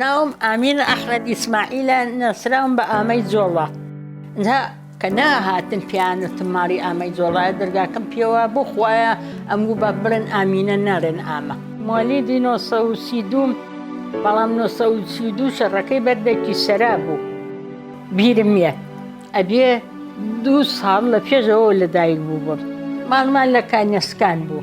ناوم ئامین ئەحمەد ئیسماعیلە ناسراوم بە ئامەی جۆڵە دا کە ناهاتن پیانەتم ماڵی ئامەی جۆڵایە دەرگاکەم پێوە بۆ خویە ئەمگو بە بڵێن ئامینە نارێن ئامە مۆلیدی 1932 بەڵام 1932 شەڕەکەی بەردێکی سەرا بوو بیرم یە ئەبێ دوو ساڵ لە پێشەوە لەدایک بوو بم ماڵمان لە کانیسکان بوو.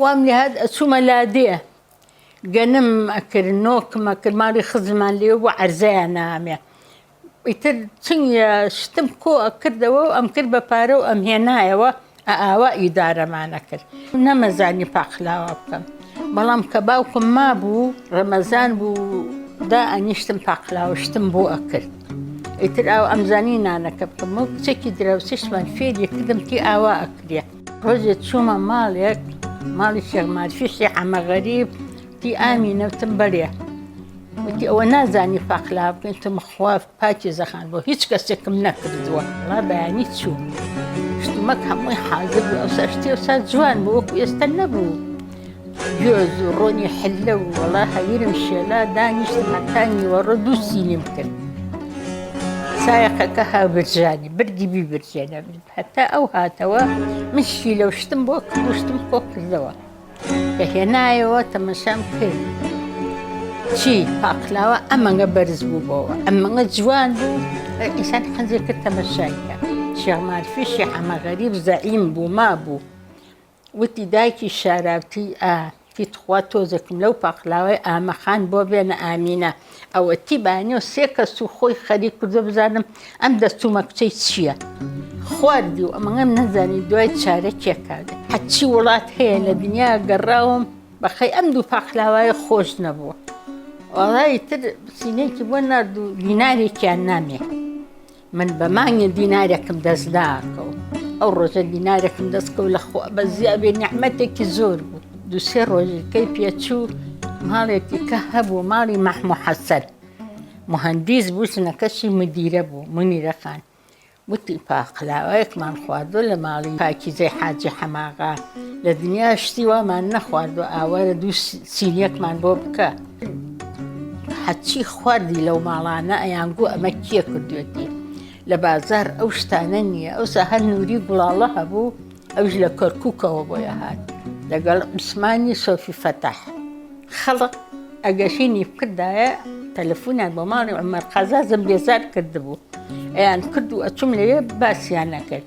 وام لێهات ئەچوومە لادێ گەنم ئەکرد نۆکم ئەکرد ماڵی خزممان لێ بوو عەرزەیان نامێ ئیتر چنگە شتم کۆ ئەکردەوە و ئەم کرد بە پارە و ئەم هێنایەوە ئاوا ئیدارەمانە کرد نەمەزانی پاقلاوە بکەم بەڵام کە باوکم ما بوو ڕەمەزان بوو دا ئەنیشتم پاقلاوە شتم بۆ ئەکرد ئیتر ئەو ئەمزانی نانەکە بکەم و کچێکی دراوسێشمان فێری کردم تی ئاوا ئەکرێت ڕۆژێک چوومە ماڵێک ماڵی شێخمارشیشی حەمە غەریب تی ئامی نەوتم بەرێ وتی ئەوە نازانی پاقلا بکەین تم خواف پاکی زەخان بۆ هیچ کەسێکم نەکردووە ڵا بەیانی چوو شتمەک هەمووی حازر بوو ئەو سەشتی و سا جوان بۆ وەکو ئێستا نەبوو گوێز و ڕۆنی حلە و وەڵا هەویرم شێلا دانیشت هەتانی وەڕۆ دوو سینیم کرد سایەقەکە هاوبرژانی بردی بیبرجێنە بێت هەتا ئەو هاتەوە من شیلە و شتم بۆ کرد و شتم کۆ کردەوە. کە هێنایەوە تەمەشام کرد. چی پاقلاوە ئەمەنگە بەرز بوو بۆوە. ئەمەنگە جوان بوو ئینسان حەزێ کرد تەمەشای کە. شێخ مارفی شێخ حەمە غەریب زەعیم بوو مابوو. وتی، دایکی شاراوتی، ئا، تی تخوا تۆزێکم لەو پاقلاوەی ئامە خان بۆ بێنە ئامینە. ئەوە تی بانیۆ سێ کەس و خۆی خەریک کردو بزانم ئەم دەرچوومە کچەی چییە. خواردی و ئەمەگەم نەزانی دوای چارە کێ کار دەکا. هەرچی وڵات هەیە لە دنیا گەڕاوم بەخەی ئەم دوو پاقلاوایە خۆش نەبووە. وەڵا ئیتر سینەیەکی بۆ نارد و دینارێکیان نامێ. من بە مانگێ دینارێکم دەست ناکەوت ئەو ڕۆژە دینارێکم دەست کەوت لە خوا بە زیابێ نەحمەتێکی زۆر بوو دوسێ ڕۆژی کەی پێچوو ماڵێکی کە هەبوو ماڵی مەحمو حەسەر مهندیس بوو ژنەکەشی مدیرە بوو منیرە خان وتی پاقلاوەیەکمان خواردۆ لە ماڵی پاکیزەی حاجی حەماغا لە دنیا شتی وامان نەخواردو ئاوارە دوو سینیەکمان بۆ بکە هەرچی خواردی لەو ماڵانە ئەیان گوو ئەمە کێ کردوێتی لە بازار ئەو شتانە نییە ئەوسا هەر نووری گوڵاڵە هەبوو ئەوش لە کەرکووکەوە بۆیە هاات لەگەڵ عوسمانی سۆفی فەتاح خەڵق ئەگەشینی بکردایە تەلەفونیان بۆ ماڵی عمر قازازم بێزار کردبوو ئەیان کرد و ئەچوم لەوێ باسییان نەکرد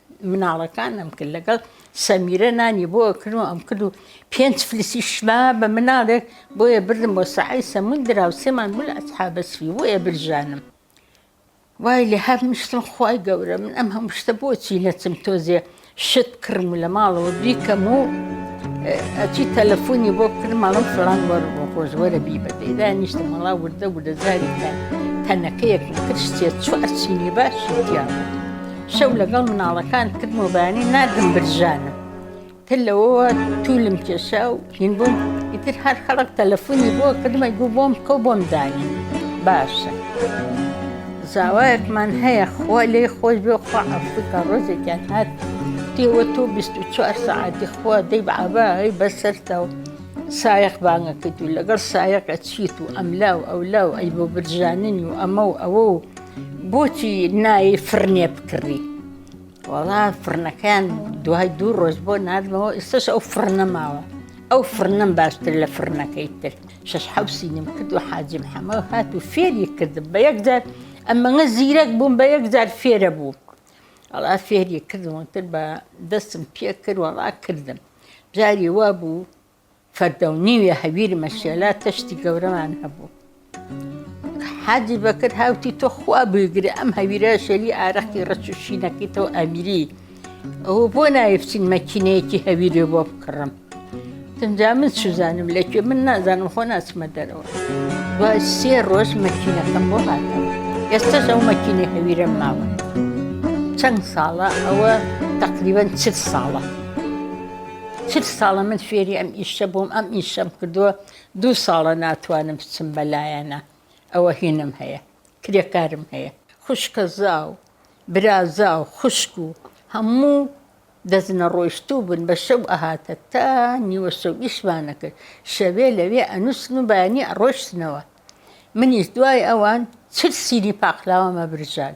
مناڵەکانم کرد لەگەڵ سەمیرە نانی بۆ ئەکرد و ئەم کرد و پێنج فلسی شما بە مناڵێک بۆیە بردم بۆ سەحی سەمون درا و سێمان بوو لە ئەسحابەسوی بۆیە برژانم وای لە هەر مشتم خی گەورە من ئەم هەم شتە بۆچی نەچم تۆزێ شت کڕم و لە ماڵەوە بیکەم و ئەچی تەلەفۆنی بۆ کرماڵم فلان وەر بۆ خۆشوەرە بی بە دەیدا نیشتە مەڵا وردە وردە زاری تەنەکەیەک نەکرد شتێ چوە ئەچینی باش دیان. شەو لەگەڵ مناڵەکان کرد و بەیانی ناردم برژانم تر لەوەوە توولم کێشا و هین بووم ئیتر هەر خەڵک تەلەفۆنی بۆ کردمە گوو بۆم بکە و بۆم دانی باشە. زاوایەکمان هەیە خوا لێی خۆش بێ خوا عەفوکا ڕۆژێکیان هات دێوە تۆ بیست و چوار سەعاتی خوا دەی عەبا هەی بەسەرتا و سایەق بانگە کرد و لەگەڵ سایەقە چیت و ئەملا و ئەولا و ئەی بۆ برژاننی و ئەمە و ئەوە و بۆچی نایی فرنێ بکڕی وەڵا فرنەکەیان دوای دوو ڕۆژ بۆ نردمەوە ئێستش ئەو فرنە ماوە ئەو فرنم باشتر لە فرنەکەی تر شش حوسینم کرد و حاجم حەمە هات و فێری کردم بە یەکجار ئەمەگە زیرەک بووم بە یەکجار فێرە بوو ئەڵا فێری کردمتر بە دەستم پێ کرد وەڵا کردم جاری وا بوو فەردەو نیوێ هەویر مەشێلا تەشتی گەورەمان هەبوو. حاجی بەکر هاوتی تۆ خوا بگرێ ئەم هەویرە شەوی ئارەقی ڕەچوشینەکەیتەوە ئەمیری ئەوە بۆ ناوێچین مەکینەیەکی هەویرێ بۆ بکڕم. تەنجا من سوزانم لەکوێ من نازانم خۆ ناچمە دەرەوە. دوای سێ ڕۆژ مەکینەکەم بۆ هاتەوە. ئێستەش ئەو مەکینە هەویرەم ماوە. چەند ساڵە ئەوە تقریبا چل ساڵە. چل ساڵە من فێری ئەم ئیشە بووم ئەم ئیشەم کردووە دوو ساڵە ناتوانم بچم بەلایەنە ئەوە هینم هەیە کرێکارم هەیە خوشکە زاو برازاو خوشک و هەموو دەست نەڕۆیشتوو بن بە شەو ئەهاتە تا نیوە شەو ئیشمانە کرد شەوێ لەوێ ئەنووسن و بەیانی ئەڕۆشتنەوە منیش دوای ئەوان چل سینی پاقلاوە مەبرژان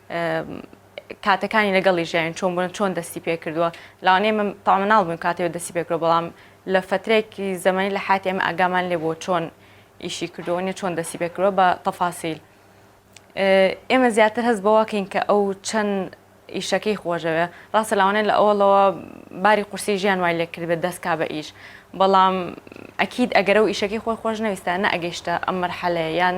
کاتەکانی لەگەڵی ژیاوین چۆن بوون چۆن دەستی پێ کردووە لەوانەیە من تاوانە ناڵبم کاتێ و دەستی پێکرۆ بەڵام لە فترێکی زەمەنی لە حاتی ئەمە ئاگامان لێ بۆ چۆن ئیشی کردووە نیە چۆن دەستی پێکرۆ بە تەفاسیل ئێمە زیاتر هەست بەواکەین کە ئەو چەند ئیشەکەی خۆشەوێ ڕاستە لاوانێت لە ئەوڵەوە باری قورسی ژیان وای لێ کردبێت دەستکا بە ئیش بەڵام ئەکیید ئەگەرە و ئیشەکەی خۆی خۆش نەویستانە ئەگەیشتە ئەم مەرحەلەیە یان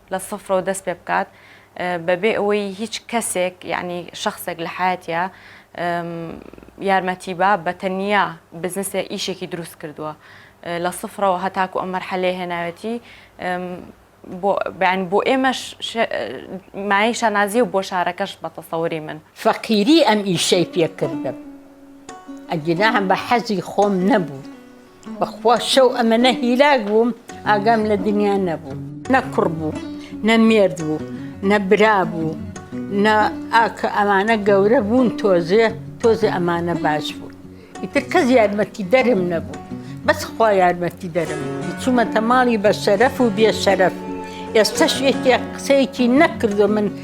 لە سفرەوە دەست پێ بکات بەبێ ئەوەی هیچ کەسێک یعنی شخصێک لە حیاتیا یارمەتی با بە تەنیا بزنسێ ئیشێکی دروست کردووە لە سفرەوە هەتاکو ئەم مەرحەلێ هێناوێتی بۆیان بۆ ئێمەش مای شانازی و بۆ شارەکەش بە تەسەوری من فەقیری ئەم ئیشەی پێکردم ئەگینا بە حەزی خۆم نەبوو. بەخوا شەو ئەمەنە هیلاک بووم ئاگام لە دنیا نەبوو نە کوڕ بوو نە مێرد بوو نە برا بوو نە ئاکە ئەمانە گەورە بوون تۆزێ تۆزێ ئەمانە باش بوو ئیتر کەس یارمەتی دەرم نەبوو بەس خوا یارمەتی دەرم چوومەتە ماڵی بە شەرەف و بێ شەرەف ئێستش یەکێک قسەیەکی نەکردو من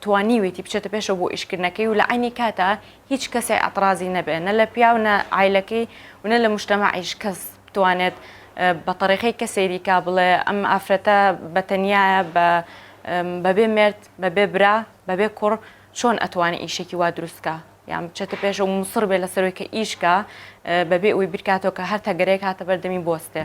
توانیویتی بچێتە پێشەوە بۆ ئیشکردنەکەی و لە عەینی کاتا هیچ کەسێ ئەتڕازی نەبێ نە لە پیاو نە عایلەکەی و نە لە مشتەمەعیش کەس بتوانێت بە تەڕیقەی کە سەیری کا بڵێ ئەم ئافرەتە بە تەنیایە بە بەبێ مێرد بەبێ برا بەبێ کوڕ چۆن ئەتوانێ ئیشێکی وا دروست کا؟ یان بچێتە پێش و موسڕ بێ لە سەرۆی کە ئیش کا بەبێ ئەوی بیرکاتەوە کە هەر تەگەرەیەک هاتە بەردەمی بۆستێ.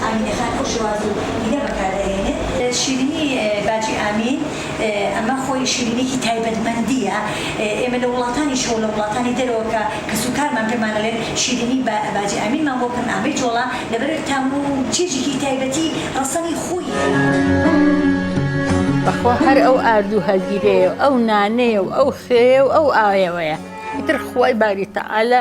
ئامینەخان ئەو شێواز و دینە بەکار دەهێنێت. شیرینی باجی ئامین، ئەمە خۆی شیرینیەکی تایبەتمەندییە، ئێمە لە وڵاتانیشەوە لە وڵاتانی دەرەوە کە کەسوکارمان پێمان ئەڵێن شیرینی باجی ئامینمان بۆ بکەن ئامەی جۆڵا، لەبەرئەوەی تام و چێژێکی تایبەتی ڕەسەنی خۆی هەیە. بەخوا هەر ئەو ئارد و هەگیرەیە و ئەو نانەیە و ئەو خوێیە و ئەو ئاوەیە ئیتر خوای باری تەعالا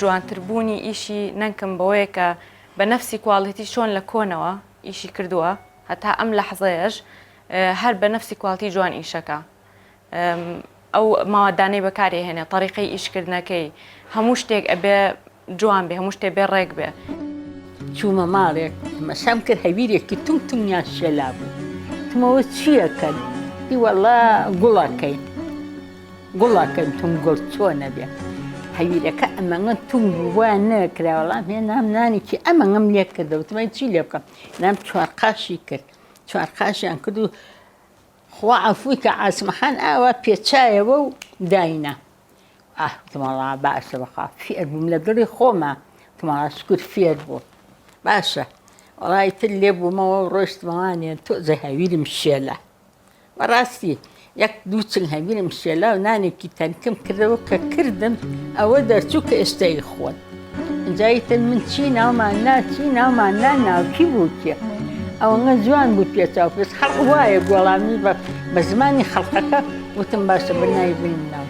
جوانتر بوونی ئیشی نەنکم بەوەیە کە بە نەفسی کواڵیتی چۆن لە کۆنەوە ئیشی کردووە هەتا ئەم لەحزەیەش هەر بە نەفسی کواڵتی جوان ئیشەکە ئەو ماوادانەی بەکارێ هێنێ طریقی ئیشکردنەکەی هەموو شتێک ئەبێ جوان بێ هەموو شتێ بێ ڕێک بێ چوومە ماڵێک مەسام کرد هەویرێکی تم تمیان شێلا بوو تمەوە چییەکەن هیوەڵا گوڵەکەی گوڵەکەن توم گورت چۆنە بێ هەویرەکە ئەمەگە توم بووە نەکرا وەڵام هێ نام نانێکی ئەمەگەم لێ کردە وتمای چی لێ بکەم نام چوار قاشی کرد چوار قاشیان کرد و خوا عفوی کە عسمەحان ئاوا پێچایەوە و داینا ئاهتمەڵا باشە بەخوا فێر بووم لە دڵی خۆمە تمەڵا شکر فێر بوو باشە وڵی تر لێ بوومەوە ڕۆشتمەوانێن تۆزە هەویرم شێلە بەڕاستی یەک دوو چنگ هەبینم شێلاو نانێکی تەنکم کردەوە کە کردم ئەوە دەرچوو کە ئێستا ی خۆن ئینجا یتن من چی ناومان نا چی ناومان نا ناوکی بوو کێ ئەوەنە جوان بوو پێچاو پێچ خەڵق وایە گۆڵامی بە بە زمانی خەڵقەکە وتم باشە بە ناوی بنی مناڵ.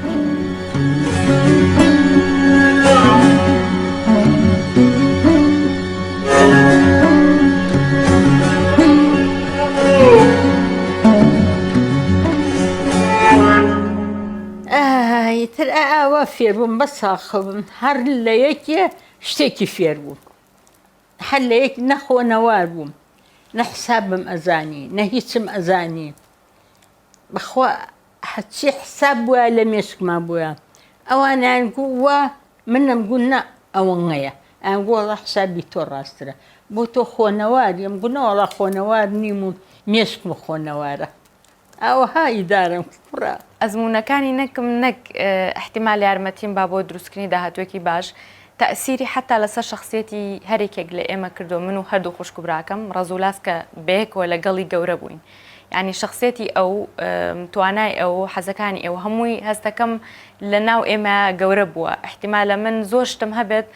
ئیتر ئاوا فێربووم بە ساخبم هەر لە یەکێ شتێکی فێربووم هەر لە یەک نەخۆنەوار بووم نە حسابم ئەزانی نە هیچم ئەزانی بەخوا هەرچی حساب بوایە لە مێشکما بوایە ئەوان ئەیانگو وا من ئەمگو نا ئەوەنەیە ئەیانگو وەڵا حسابی تۆ ڕاسترە بۆ تۆ خۆنەواری ئەمگو نەوەڵا خۆنەوار نیم و مێشکم و خۆنەوارە ئەوها ئیدارەم کوڕە ئەزموونەکانی نەکم نەک ئیحتیمال یارمەتیم با بۆ دروستکردنی داهاتووێکی باش تەئسیری حەتا لەسەر شەخسیەتی هەریکێک لە ئێمە کردووە من و هەردوو خوشک و براکەم ڕەزولاس کە بەیەکەوە لەگەڵی گەورە بووین یانی شەخسیەتی ئەو توانای ئەو حەزەکانی ئەو هەمووی هەستەکەم لە ناو ئێمە گەورە بووە احتیمالە من زۆر شتم هەبێت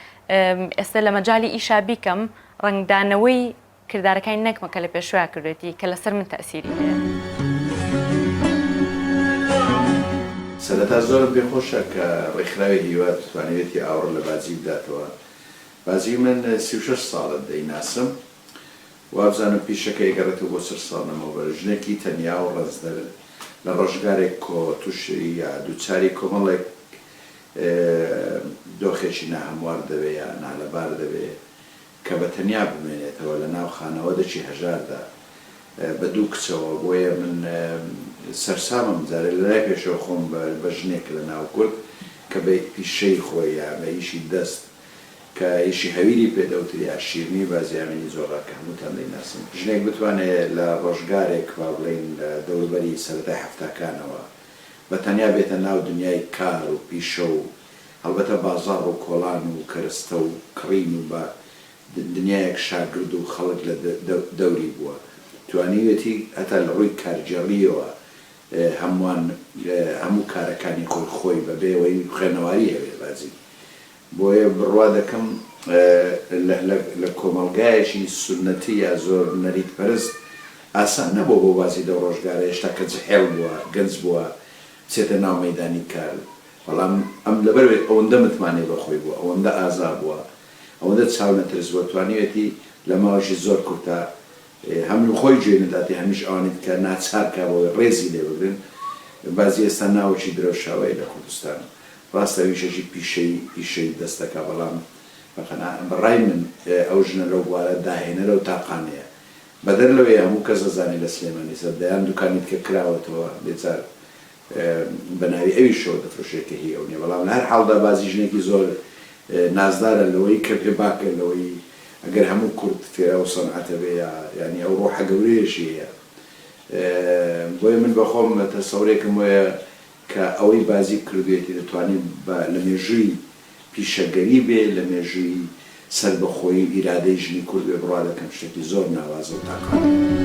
ئێستا لە مەجای ئیشا بیکەم ڕنگدانەوەی کردارەکانی نەکمە کە لە پێشویا کردێتی کە لەسەر من تەسیری هەیە. سەرەتا زۆرم پێ خۆشە کە ڕێکخراوی هیوا توانیوێتی ئاوڕ لە بازی بداتەوە. بازی من سی و شەش ساڵە دەیناسم. وابزانم پیشەکە ئەگەڕێتەوە بۆ چل ساڵ لەمەوبەر، ژنێکی تەنیا و ڕەنجدەر لە ڕۆژگارێک کۆ تووشیا دووچاری کۆمەڵێک دۆخێکی ناهەموار دەبێ یا نالەبار دەبێ کە بە تەنیا بمێنێتەوە لە ناو خانەوەدەکی هەژاردا بە دوو کچەوە بۆیە من سەرسامم جارێ لە لای پێشەوە خۆم بە ژنێک لە ناو کورد کە بە پیشەی خۆی یا بە ئیشی دەست کە ئیشی هەویری پێ دەوتریا، شیرنی بازیامینی زۆرڕا کە هەمووتان دەیناسن. ژنێک بتوانێ لە ڕۆژگارێک با بڵێین لە دەوروبەری سەرەتای حەفتاکانەوە بە تەنیا بێتە ناو دنیای کار و پیشە و هەڵبەتە بازاڕ و کۆڵان و کەرستە و کڕین و با دنیایەک شاگرد و خەڵک لە دەوری بووە توانیوێتی هەتا لە ڕووی کارگێڕییەوە هەمووان هەموو کارەکانی خۆی خۆی بەبێ ئەوەی خوێنەواری هەبێ بازی بۆیە بڕوا دەکەم لە کۆمەڵگایەکی سوننەتی یا زۆر نەریت پەرست ئاسان نەبووە بۆ بازی لەو ڕۆژگارە هێشتا کە جحێڵ بووە گەنج بووە بچێتە ناو مەیدانی کار بەڵام ئەم لەبەرئەوەی ئەوەندە متمانەی بەخۆی بووە ئەوەندە ئازا بووە ئەوەندە چاونەترس بووە توانیوێتی لە ماوەشی زۆر کورتا هەم لە خۆی جێ نەداتێ هەمیش ئەوانی دیکە ناچار کا بەوەی ڕێزی لێ بگرن. بەعزی ئێستا ناوەکی درەوشاوەیە لە کوردستان. ڕاستە ئەویشەکی پیشەی پیشەی دەست دەکا بەڵام بە قەناع بە ڕای من ئەو ژنە لەو بوارە داهێنەرە و تاقانەیە. بەدەر لەوەی هەموو کەس ئەزانێ لە سلێمانی سەر دەیان دوکانی دیکە کراوەتەوە بێجار بەناوی ئەویشەوە دەفرۆشێت کە هی ئەو نیە بەڵام لە هەر حاڵدا بازی ژنێکی زۆر نازدارە لەوەی کە پێ باکە لەوەی ئەگەر هەموو کورد فێرە ئەو سەنعەتە بێ یا یانی ئەو ڕۆحە گەورەیەشی هەیە بۆیە من بەخۆم تەسەورێکم وەیە کە ئەوەی بازی کردوێتی دەتوانێت بە لە مێژووی پیشەگەری بێ لە مێژووی سەربەخۆیی و ئیرادەی ژنی کورد بێ بڕوا دەکەم شتێکی زۆر ناوازە و تاقانەیە.